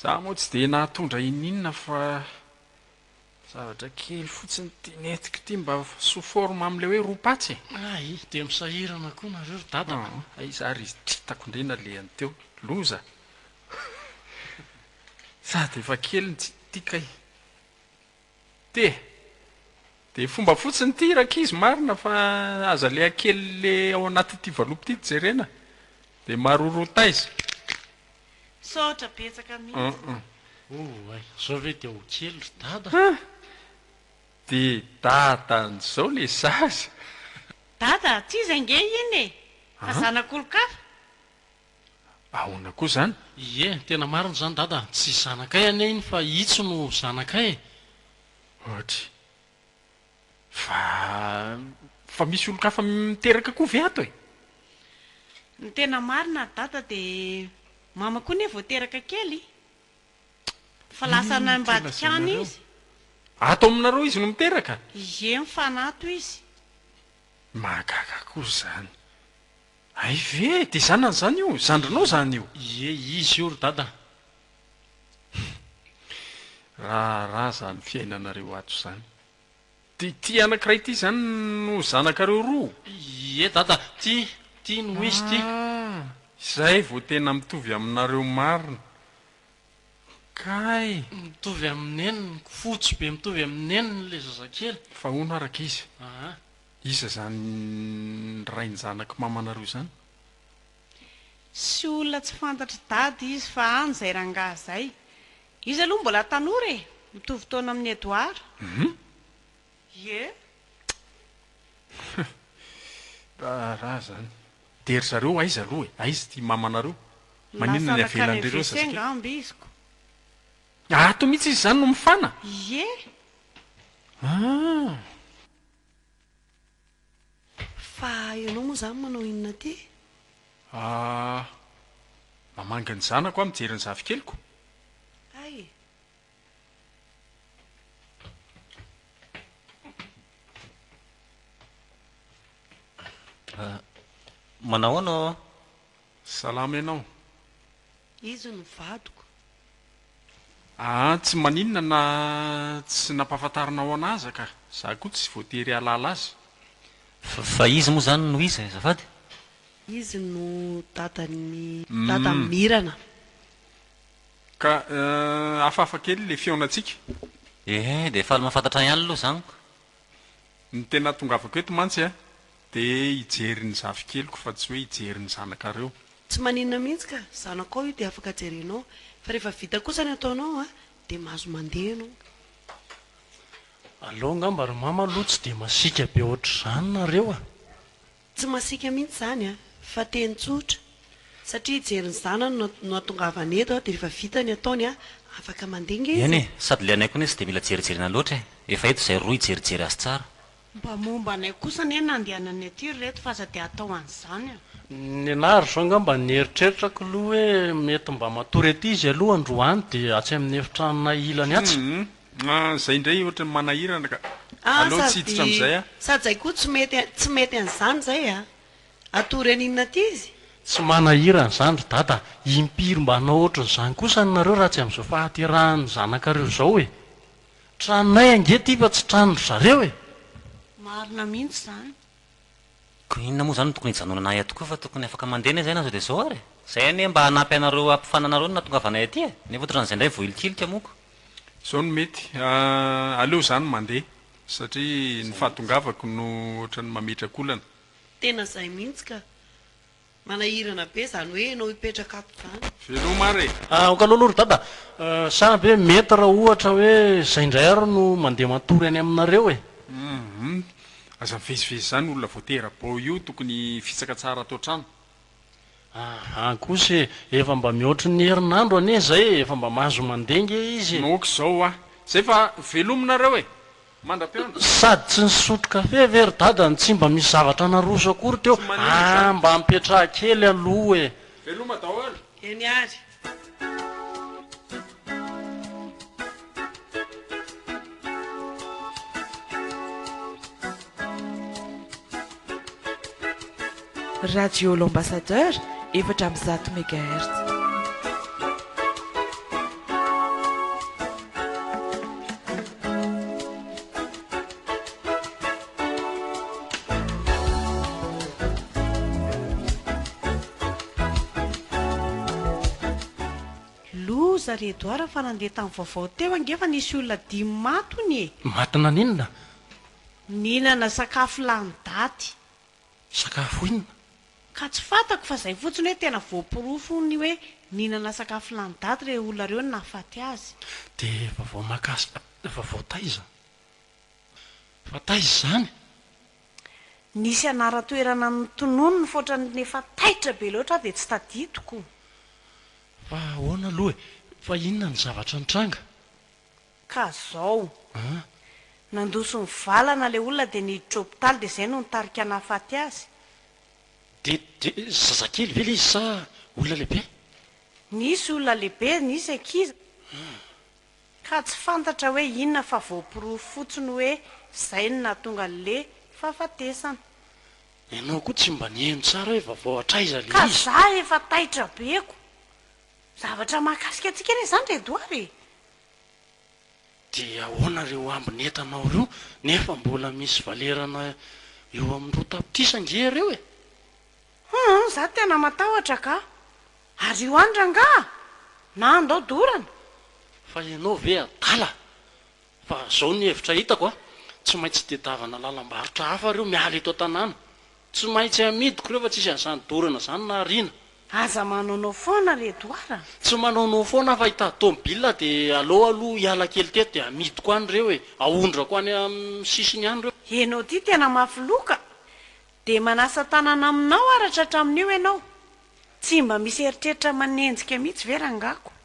Za moa tsy dia nahatondra ininona fa zavatra kely fotsiny ity nentiko ity mba sous forme amin'ilay hoe roa patsy e! Hay, dia misahirana koa nareo ry dada a! Hay za ry tritako ndray nalehany teo, loza! Sady efa kely ny tsy tia kay! Te. Dia fomba fotsiny ity rankizy marina fa aza le akely le ao anatity valopy ity jerena dia maroro taiza. Misaotra betsaka mihitsy. Oh ay, zao ve dia ho kely ry dada? Ah! Dia dadan'izao le zaza. Dada, tsy izy ange iny e! Fa zanak'olon-kafa. Ahoana koa izany? Ie, tena marina izany dada, tsy zanakay anie iny fa itsy no zanakay e! Ohatry. Fa, fa misy olon-kafa miteraka koa ve ato e? Ny tena marina ry dada dia mama koa anie vao teraka kely fa lasa any ambadika any izy. Ato aminareo izy no miteraka? Ie, mifanato izy. Mahagaga koa izany. Hay ve dia zanany izany io? Zandrinao izany io? Ie, izy io ry dada. Humm. Raharaha izany fiainanareo ato izany. Dia ity anankiray ity izany no zanakareo roa? Ie dada, ity, ity no izy ity. Ah, izay vao tena mitovy aminareo marina. Kay. Mitovy amin'ny neniny, fotsy be mitovy amin'ny neniny ilay zazakely. Fa hono araka izy. Aa. Iza izany rain-janak'i mamanareo izany? Tsy olona tsy fantatr'i dada izy fa any izay rangahy izay. Izy aloha mbola tanora e! Mitovy taona amin'i Edouard. Hum? Ie. Raha izany. Dia ry zareo aiza aloha e? Aiza ity mamanareo? Maninona ny avelan'ireo rehetra satria. Lasa nankany WC angamba izy ko. Ato mihitsy izy izany no mifana? Ie. Ah! Fa ianao moa izany manao inona aty? Ahh. Mamangy ny zanako aho mijery ny zafikeliko. Hay. Ahh. Manao ahoana aho? Salama ianao? Izy no vadiko. Aa tsy maninona na tsy nampahafantarinao anah aza ka! Za koa tsy voatery hahalala azy. Fa fa izy moa zany no iza e azafady? Izy no dadan'i dada Umm. Mirana. Ka hafahafa kely ilay fihaonantsika. Ee, dia faly mahafantatra ihany aloha zan ko. Ny tena tongavako eto mantsy an, Dia hijery ny zafikeliko fa tsy hoe hijery ny zanakareo. Tsy maninona mihitsy ka, zanakao io dia afaka jerenao, fa rehefa vita kosa ny ataonao a, dia mahazo mandeha ianao. Aleo angamba ry mama aloha tsy dia masiaka be ohatr'izany nareo a! Tsy masiaka mihitsy izany a, fa teny tsotra, satria hijery ny zanany no no atongavany eto a, dia rehefa vita ny ataony a, afaka mandeha nge izy Eny e! e, sady ilay anay koa anie tsy dia mila jerijerena loatra e, efa eto izay roa hijerijery azy tsara. Mba momba anay kosa anie nandehanan'ny aty ry reto f'aza dia atao an'izany a! Nenaha ry zao angamba nieritreritra k'lou hoe mety mba matory aty izy aloha androany dia atsy amin'ny efitranonay ilany atsy. Humm a zay indray ohatran'ny manahirana ka! Ah Aleo tsy hiditra amin'izay a! Sady zay koa tsy mety tsy mety an'izany izay a! Atory an'inona aty izy? Tsy manahirana izany ry dada a! Impiry mba hanao ohatran'izany kosa ny nareo raha tsy amin'izao fahaterahan'ny zanaka reo izao e! Tranonay ange ty fa tsy tranon dry zareo e! Marina mihitsy izany. Ko inona moa izany no tokony hijanonana ahy ato koa fa tokony afaka mandeha anie izay na zao dia zao ary e! Izay anie mba hanampy anareo hampifana anareo no nahatongavanay aty e! Nefa otran'izay indray vohilikilika moa ko! Izao no mety, aleo za no mandeha satria ny fahatongavako no ohatran'ny mametraka olana. Tena izay mihitsy ka! Manahirana be zany hoe enao hipetraka ato zany. Veloma ary e. Ah ok lolo ry dada ah, sa ve mety raha ohatra hoe zay ndray ary no mandeha matory any aminareo e? Hum aza mivezivezy zany olona vao tera-bao io tokony hifitsaka tsara ato an-trano. Aha kosa e, efa mba mihoatry ny herinandro anie zay e, efa mba mahazo mandeha nge izy e. Ok zao hoa, zay fa veloma nareo e. mandra-piandry. Sady tsy nisotro kafe ve ry dada no tsy mba misy zavatra naroso akory teo aa mba mipetraha kely aloha e. Veloma daholo. Eny ary. Radio L'Ambassadeur efatra amby zato megahertz. Loza ry Edouard fa nandeha tamin'ny vaovao teo ange fa nisy olona dimy maty hono e! Maty naninona? Nihinana sakafo lany daty. sakafo inona? Ka tsy fantako fa zay fotsiny hoe tena voaporofo ny hoe nihinana sakafo lany daty reo olona reo no nahafaty azy. Dia vaovao mahakasika vaovao taiza? Fa taiza izany? Nisy anaran-toerana notonony nifoatran'ny efa taitra be loatra aho dia tsy tadidiko. Fa ahoana aloha e? Fa inona ny zavatra nitranga? Ka zao. Nandoso ny valana le olona de niditra hopitaly de zay no nitarika nahafaty azy. De de zazakely ve le izy sa olona lehibe? Nisy olona lehibe, nisy ankizy. Ka tsy fantatra hoe inona fa voaporofo fotsiny hoe zay no nahatonga anle fahafatesana. Ianao koa tsy mba niheno tsara hoe vaovao hatraiza le izy. Ka za efa taitra be ko. Zavatra mahakasika antsika re zany Redoire e. Dia ahoana ireo ambiny entanao ireo nefa mbola misy valerana eo amin'ny roa tapitrisa ange ireo e! Hum hum za tena matahotra ka! Ary io any rangaha na andao dorana? Fa ianao ve adala? Fa zao ny hevitra hitako a! Tsy maintsy tedavana lalam-barotra hafa ireo miala eto an-tanàna. Tsy maintsy amidiko rehefa tsisy an'izany dorana izany na ariana. Aza manaonao foana ry Edouard a! Tsy manaonao foana aho fa hitady tomobilina dia aleo aloha hiala kely teto dia amidiko any ireo e! Aondrako any amin'ny sisiny any ireo. Ianao ity tena mafy loha ka! Dia manasa tanana aminao aratra hatramin'io ianao? Tsy mba misy eritreritra manenjika mihitsy ve rangako?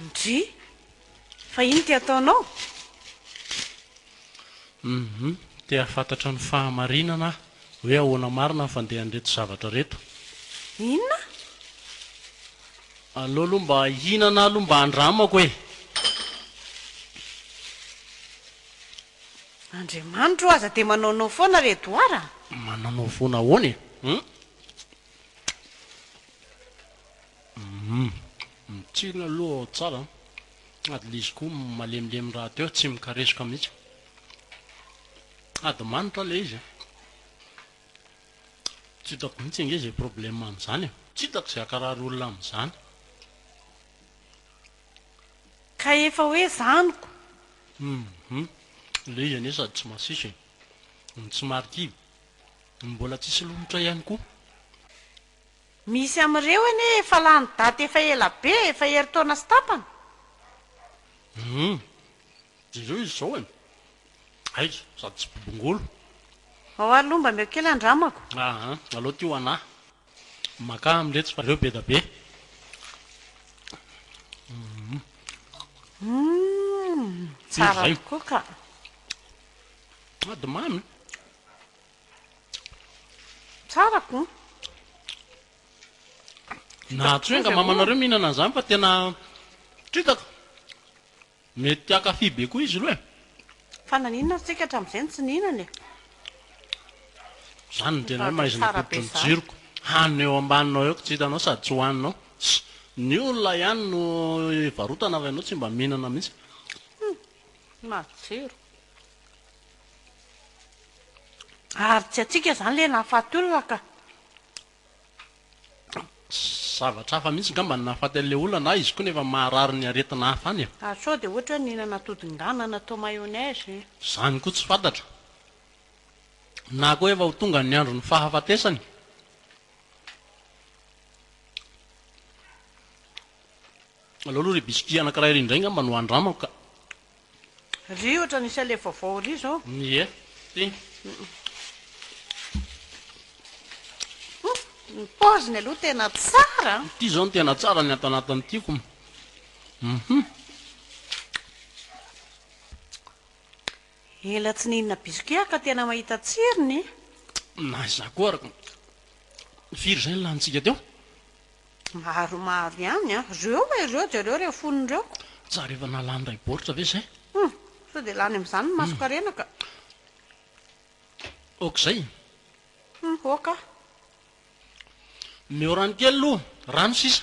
Ndry! Fa inona ity ataonao? Humm te hahafantatra ny fahamarinana aho hoe ahoana marina ny fandehan'ireto zavatra reto. Inona? Aleo aloha mba hihinana aloha mba handramako e! Andriamanitra o aza dia manaonao foana ry Edouard a! Manaonao foana ahoana e? Humm. Humm. Mitsiry aloha ao tsara an. Ady l'izy koa malemilemy rahateo tsy mikaresoka mihitsy. Ady manitra ilay izy an. Tsy hitako mihitsy ange izay problème amin'izany e. Tsy hitako izay hakarary olona amin'izany. Ka efa hoe zaniko. Humm. Ilay izy anie sady tsy masiso e. Ny tsy marikivy. Ny mbola tsisy lomotra ihany koa. Misy amin'ireo anie efa lany daty efa ela be, efa herintaona sy tapany. Humm. Dia ireo izy izao an. Hay, sady tsy bobongolo. Ao ary lomba meo kely andramako. Aa, alao ty ho anah. Makà am letsy fa ireo beda be. Humm. Humm, tsara tokoa ka. Sady mamy. Tsara ko. Nahatsoy anga mama nareo mihinana an'izany fa tena tritako. Mety hakafy be koa izy roa e. Fa naninona ry tsika hatramin'izay no tsy nihinana e. Zany ny tenanao maizina tobiko ny jiroko hanina eo ambaninao eo ko tsy hitanao sady tsy hohaninao sy ny olona ihany no hivarotana fa ianao tsy mba mihinana mihitsy. Matsiro. Ary tsy atsika izany ilay nahafaty olona ka. Zavatra hafa mihitsy ngamba no nahafaty an'ilay olona na izy koa nefa maharary ny aretina hafa any e. Ary sao dia ohatra hoe nihinana atodin-gana natao mayonnaise. Izany koa tsy fantatra. Na koa efa ho tonga ny andron'ny fahafatesany. Aleo aloha ry biscuit anakiray ry indray ngamba no andramako ka. Ry ohatra nisy alefa vaovao ry zao. Ie, ty. Ny paoziny aloha tena tsara an. Ity zao no tena tsara ny ato anatiny tiako. Hum. Ela tsy nihinana biscuit aho ka tena mahita tsirony. Na izaho koa ary. Firy izay ny lanintsika teo? Maromaro ihany an! Reo e reo jereo reo fony reo. Tsara efa nalany ray baoritra ve zay? Hum! Sao dia lany amin'izany ny masonkarena ka. Ok izay? Hum! Ok ah. Omeo rano kely aloha, rano sisa.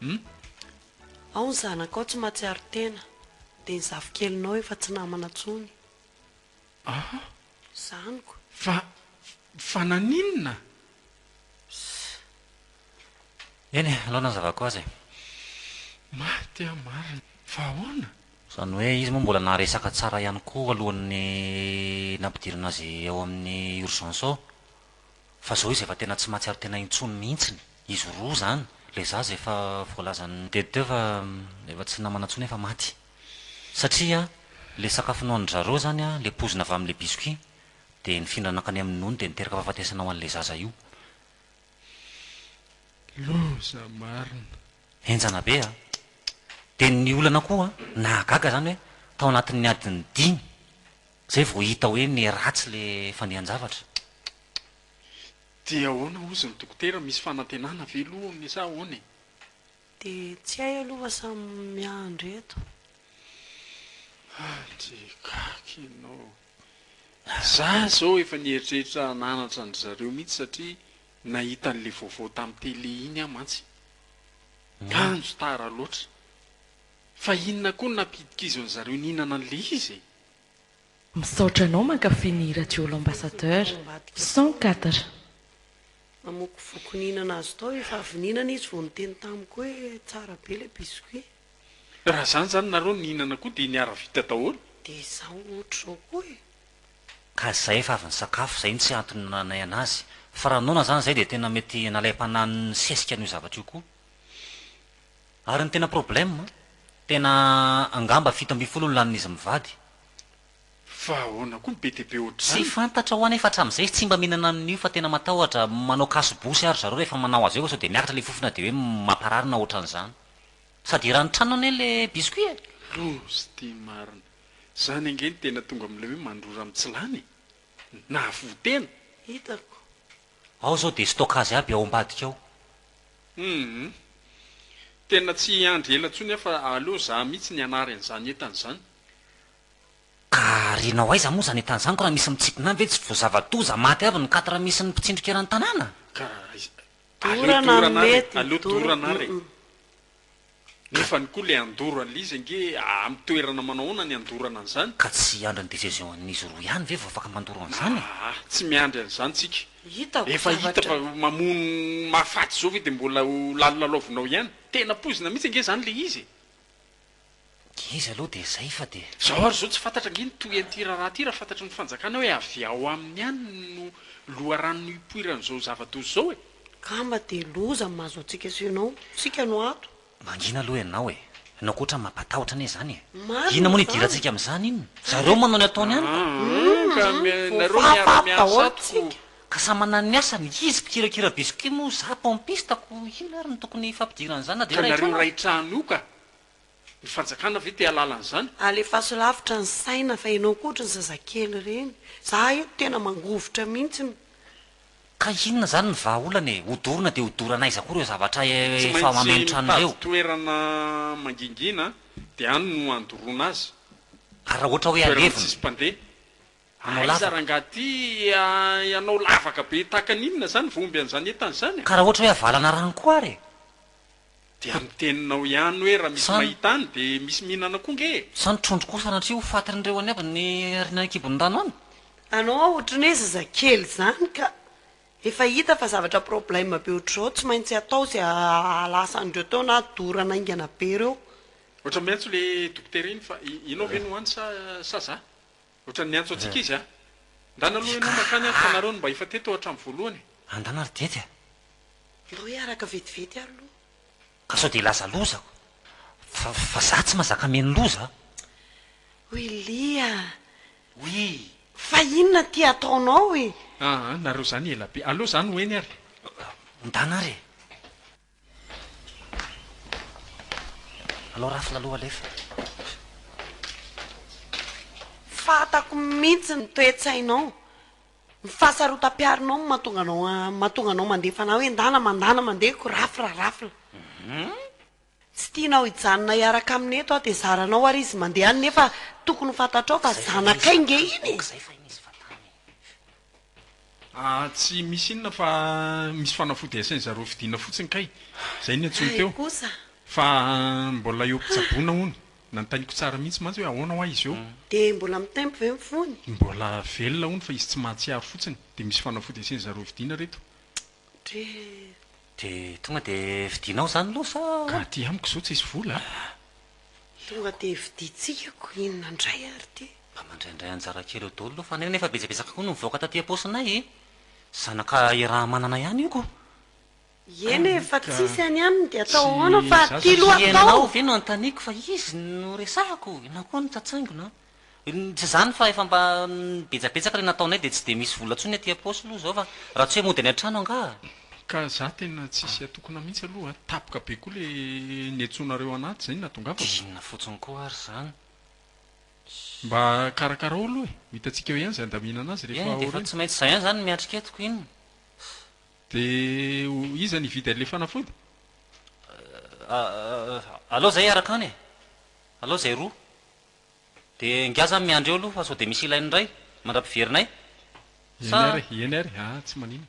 Hum. Ao ny zanakao tsy matsiaro tena. Dia ny zafikelinao efa tsy namana tsony. Aha. Zaniko. Fa, fa naninona? Ssss. Eny e, alao nanazavako azy e. Maty aho marina. Fa ahoana? Izany hoe izy moa mbola naharesaka tsara ihany koa alohan'ny nampidirana azy ao amin'ny urgence ao. Fa zao izy efa tena tsy mahatsiaro tena intsony mihintsiny, izy roa zany, le zaza efa voalazan'ny DT teo fa efa tsy namana intsony efa maty. Satria le sakafo nohanin-dry zareo zany an, le poizina avy amin'le biscuit de nifindra nankany amin'ny nono de niteraka fahafatesana ho an'le zaza io. Loza marina. Henjana be a! Dia ny olana koa nahagaga izany hoe tao anatin'ny adiny dimy. Zay vao hita hoe ne ratsy le fandehan-javatra. Dia ahoana hozy ny dokotera, misy fanantenana ve aloha aminy sa ahoana e? Dia tsy hay aloha fa samy miandry eto. Dia gaga ianao. Za zao efa nieritreritra hananatra an-dry zareo mihitsy satria nahita an'le vaovao tamin'ny télé iny aho mantsy. Kanjo tara loatra. Fa inona koa no nampidikizan'zareo nihinana an'le izy e? Misaotra anao mankafy ny hira Joe l'ambassadeur. Cent quatre. Namoako vokoninana azy tao efa avy nihinana izy vao niteny tamiko hoe tsara be ilay biscuit. Raha zany zany nareo nihinana koa dia niara vita daholo. Dia izaho ohatr zao koa e. Ka izay efa avy nisakafo, izay no tsy antony nananay anazy. Fa raha noana izany izay dia tena mety nalaim-panahin'ny sesika an'io zavatra io koa. Ary ny tena problème, tena angamba fito ambin'ny folo no lanin'izy mivady. Fa ahoana koa ny be dia be ohatr'izany? Tsy fantatrao anefa hatramin'izay izy tsy mba mihinana an'io fa tena matahotra, manao kaso bosy ary zareo rehefa manao azy eo fa sao dia miakatra ilay fofona dia hoe mamparary na ohatran'izany. Sady eran'ny tranony anie ilay biscuit e! Loza ity marina. Izany ange no tena tonga amin'ilay hoe mandrora amin'ny tsy lany e! Nahavoa tena! Hitako. Ao zao dia stockage aby ao ambadika ao. Humm. Tena tsy hiandry ela intsony aho fa aleo za mihitsy ny hanary an'izany entana izany. Ka arianao aiza moa izany entana izany ko raha misy mitsipina any ve tsy vao zava-doza maty avy ny quatre misy ny mpitsindrika eran'ny tanàna? Ka aiza? Aleo dorana ary e! Aleo dorana ary e! Nefany koa le andoro anlizy ange am toerana manao ahoana ny andorana anzany? Ka tsy hiandry ny decision an'izy roa ihany ve vao afaka mandoro anzany e? Aa tsy miandry anzany tsika. Efa hita fa mamono mahafaty zao ve de mbola ho lalilalaovinao ihany? Tena poizina mihitsy ange zany le izy e! Dia izy aloha dia izay fa dia. Zao ary zao tsy fantatra ange ny tohian ity raharaha ity raha fantatry ny fanjakana hoe avy ao aminy ihany no loharano no hipoiran izao zava doza izao e! Kamba dia loza ny mahazo antsika sy ianao. Isika no ato. Mangina aloha ianao e! Ianao koa otrany mampatahotra anie izany e! Inona moa ny idirantsika amin'izany inona? Zareo manao ny ataony ihany ka! Hum ka nareo miara miasa ato ko! Ka samy manana ny asany, izy mpikirakira biscuit moa za pompiste ko inona ary no tokony hifampidiran'izany na dia iray trano aza? Ka nareo iray trano io ka! Ny fanjakana ve te halala an'izany? Alefaso lavitra ny saina fa ianao koa ohatry ny zazakely ireny. Za eto tena mangovitra mihitsy no. Ka inona izany ny vahaolana e? Hodorana dia hodorana aiza koa ireo zavatra Tsy efa maintsy mameno trano mitady ireo? toerana mangingina dia any no andoroana azy. Ary raha ohatra hoe Toerana alevina? tsisy mpandeha. hanao lavaka. Aiza rangah ty aah hanao lavaka be tahaka ny inona zany vao omby an'izany entana izany a. Ka raha ohatra hoe avalana rano koa ary e. Dia amin'ny teninao ihany hoe raha misy mahita any dia misy mihinana koa nge e. Sa ny trondro koa sanatria ho fatin'ireo any aby ny ariana any an-kibon'ny rano any? Anao aho otriny hoe zazakely zany ka! Efa hita fa zavatra problème be otrzao tsy maintsy atao ze ahalasa an'ireo teo na dorana aingana be reo. Ohatran'ny miantso ilay dokotera iny fa ianao ve no any sa sa za? Otrany miantso antsika izy a! Ndana aloha ianao makany ary fanareo no mba efa teto hatram voalohany e! Andana ry dety a! Ndao hiaraka vetivety ary aloha. Ka sao dia hilaza loza ko! Fa fa za tsy mazaka mihaino loza a! Willy a! Oui! Fa inona ity ataonao e! Aa nareo zany ela be! Aleo za no eny ary! Ndana ary e! Anao rafina aloha alefa. Fantako mihintsy ny toe-tsainao, ny fahasarotam-piaronao no mahatonga anao mahatonga anao mandeha fanahy hoe ndana mandana mandeha ko rafra rafla. Tsy tianao hijanona hiaraka aminy eto aho dia zaranao ary izy mandeha any nefa tokony ho fantatrao fa zanakay nge iny e! Ah tsy misy inona fa misy fanafody asain zareo vidiana fotsiny kay zay ny antsoiny teo fa mbola eo mpitsabona hono nantainiko tsara mihitsy mantsy hoe ahoana hoa izy eo. Dia mbola mitempo ve ny fony? Mbola velona hono fa izy tsy mahatsiaro fotsiny dia misy fanafody asain zareo vidiana reto. Dre Dia tonga dia vidianao izany aloha sa ahoana? Ka aty amiko izao tsisy vola a! Tonga dia vidintsika ko inona indray ary ity? Mba mandraindray anjara kely eo daholo aloha fa neny efa betsabetsaka koa no mivoaka taty am-paosinay e! Zanaka i Rahamanana ihany io ko! Eny e, fa tsisy any aminy dia atao ahoana fa aty aloha atao! Ianao ve no anontaniako fa izy no resahako? Ianao koa no tsatsangona a! Tsy izany fa efa mba betsabetsaka ilay nataonay dia tsy dia misy vola intsony aty am-paosy aloha izao fa raha tsy hoe mody any an-trano angaha? Ka za tena tsisy atokona mihitsy aloha a! Tapoka be koa le niantsoanareo anaty izay no nahatongavako. Dia inona fotsiny koa ary izany? Mba karakarao aloha e! Ho hitantsika eo ihany izay handaminana azy rehefa aoriana. Eny dia efa tsy maintsy izay ihany izany no miatrika eto ko inona? Dia iza no hividy an'ilay fanafody? Alao izay hiaraka any e! Alao izay roa. De ngiahy za miandry eo aloha fa sao de misy ilainy indray mandra-piverinay sa. Eny ary e, eny ary, aa tsy maninona.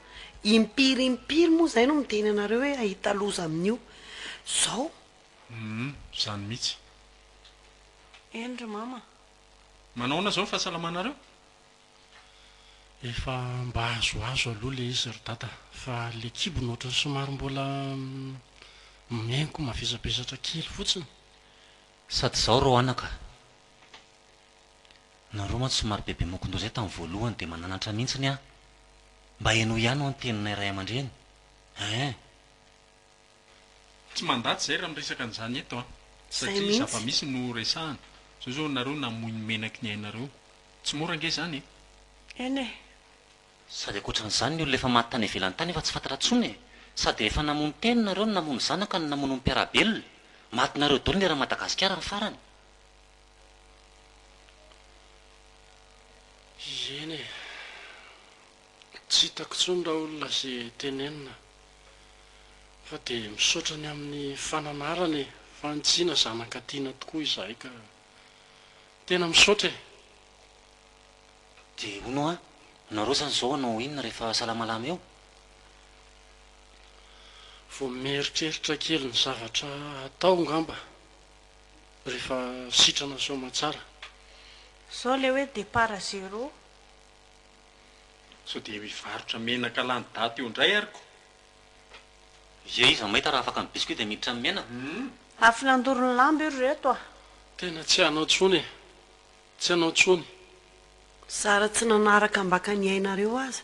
Impiry impiry moa izay no miteny anareo hoe hahita loza amin'io zao. Humm zany mitsy. Eny ry mama. Manao ahoana zao ny fahasalamanareo? Efa mba azoazo aloha le izy ry dada fa le kibony ohatran'ny somary mbola mihainko mavesabesatra kely fotsiny. Sady zao reo anaka. Nareo mantsy somary bebe mokondo zay tam voalohany de mananatra mintsiny an! Mba henoy ihany ho'a ny teninay ray aman-dreny eeh! Tsy mandà tsy zay raha miresaka an'izany eto an! Satria zava-misy no resahana! Zao zao nareo namoy ny menaky ny ainareo! Tsy mora ange zany e! Eny e! Sady ankoatran'izany ny olona efa maty tany ivelany tany efa tsy fantatra tsony e! Sady efa namono teny nareo no namono zanaka no namono ny mpiarabelona! Matinareo doly ny eran'i Madagasikara ny farany! Eny e! Tsy hitako intsony raha olona ze tenenina fa dia misaotra ny amin'ny fananarana e! Fahantsiana zanaka tiana tokoa izahay ka! Tena misaotra e! Dia hono hoa, nareo zany zao hanao inona rehefa salamalama eo? Vao mieritreritra kely ny zavatra hatao ngamba. Rehefa sitrana soamatsara. Zao le hoe départ à zéro. Sao dia mivarotra menaka lany daty eo indray ary ko. Ye iza mahita raha afaka ny biscuit dia miditra ny menaka. Afo nandoro ny lamba io ry reto a. Tena tsy hanao tsony e. Tsy hanao tsony. Zara tsy nanaraka ambaka ny ainareo aza.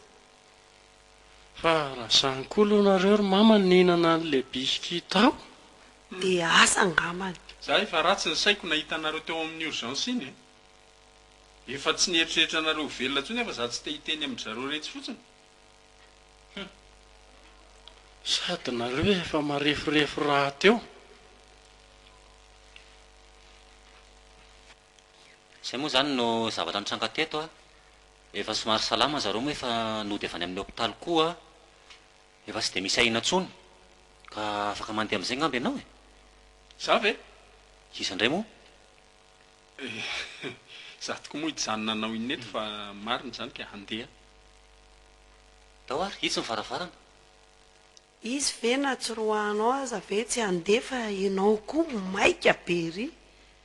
Fa raha sahy koa aloha nareo ry mama nihinana anle biscuit tao le asa angambany. Za efa ratsy ny saiko nahita anareo teo amin'ny urgence iny e! Efa tsy nieritreritra anareo ho velona intsony aho fa za tsy te hiteny amin-dry zareo retsy fotsiny! Hum! Sady nareo efa mareforefo rahateo. Zay moa zany no zavatra nitranga teto a! Efa somary salama zareo moa efa nody avy any amin'ny hopitaly koa. Efa tsy dia misy ahiana intsony ka afaka mandeha amin'izay angamba ianao e! Izaho ve? Iza indray moa? Izaho tokoa moa hijanona anao inona eto fa marina izany ka handeha. Tao ary, itsy ny varavarana. Izy ve na tsy roahanao aza ve tsy handeha fa ianao koa maika be ery!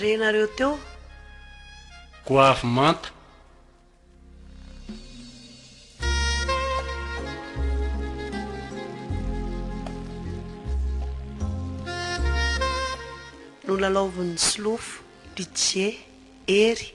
Re nareo teo. Goavy manta. Nolalaovin'ny solofo, Pitié, Hery,